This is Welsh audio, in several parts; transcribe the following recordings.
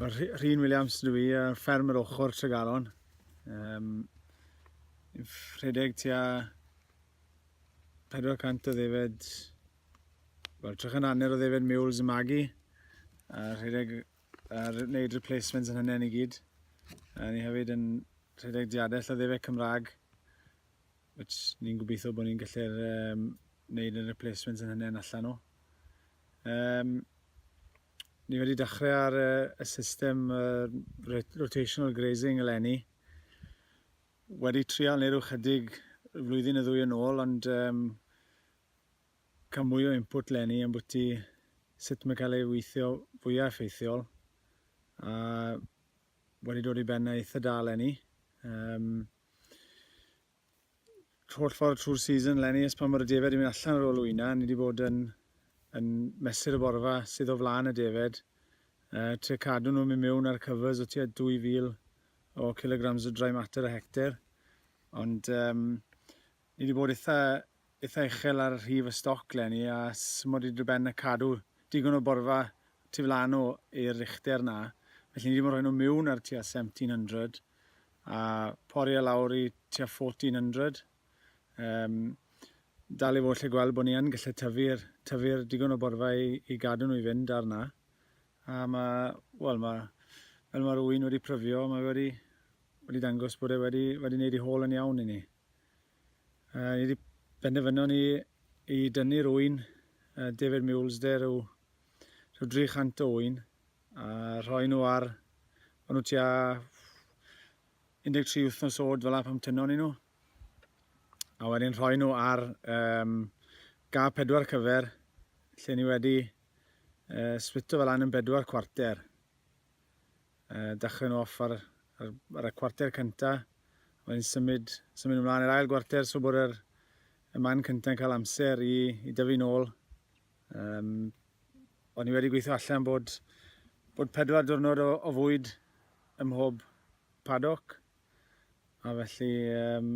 Rhyn Williams dwi i, uh, ffermwr ochr Tregaron. Um, rhedeg tua 400 o ddefed, wel, trech yn hanner o ddefed mules y magi, a rhedeg a wneud replacements yn hynny'n i gyd. A ni hefyd yn rhedeg diadell o ddefed Cymraeg, which ni'n gobeithio bod ni'n gallu'r um, wneud y replacements yn hynny'n allan nhw. Um, Ni wedi dechrau ar y system rotational grazing eleni. Wedi trial neu rhyw chydig flwyddyn y ddwy yn ôl, ond um, cael mwy o input lenni am bwyty sut mae cael ei weithio fwyaf effeithiol. A wedi dod i ben eitha da lenni. Um, holl ffordd trwy'r season lenni ers pan mae'r y defaid yn mynd allan ar ôl wyna, ni wedi bod yn yn mesur y borfa sydd o flaen y defaid, uh, trio cadw nhw'n mynd mewn ar covers o tua 2000 o kilograms o dry matter a hectare. Ond um, ni wedi bod eitha, eitha uchel ar rhif y stoc lenni a symod i dryben y cadw digon o borfa tu flan o i'r richter na. Felly ni wedi bod yn rhoi nhw mewn ar tua 1700 a pori e lawr i tua 1400. Um, dal i fod lle gweld bod ni yn gallu tyfu'r tyfu digon o borfa i, i gadw nhw i fynd arna. A mae, wel mae, fel mae rwy'n wedi pryfio, mae wedi, wedi dangos bod e wedi, wedi wneud ei hôl yn iawn i ni. Uh, ni wedi benderfynu ni i dynnu rwy'n uh, David Mules, de, rhyw, rhyw 300 o wy'n, A rhoi nhw ar, o'n nhw tua 13 wythnos oed fel pan tynon ni nhw. A wedyn rhoi nhw ar um, ga pedwar cyfer, lle ni wedi uh, splito fel an yn bedwar cwarter. Uh, dechrau nhw off ar, ar, ar y cwarter cyntaf, wedyn symud, symud ymlaen i'r ail gwarter, so bod yr, y man cyntaf yn cael amser i, i dyfu'n ôl. Um, o'n i wedi gweithio allan bod, bod pedwar diwrnod o, o fwyd ym mhob paddock. A felly, um,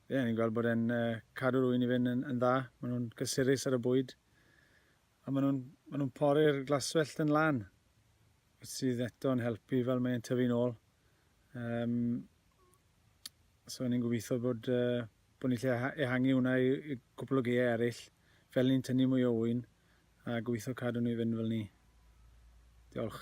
ie, ni'n gweld bod e'n uh, cadw'r wy'n i fynd yn, yn dda. Maen nhw'n gysurus ar y bwyd. A maen nhw'n ma nhw pori'r glaswellt yn lan. Sydd eto'n helpu fel mae'n tyfu'n ôl. Um, so ni'n gobeithio bod, uh, bod ni'n gallu ehangu hwnna i gwpl o gaeau eraill, fel ni'n tynnu mwy o ŵyn, a gobeithio cadw ni i fynd fel 'ny. Diolch.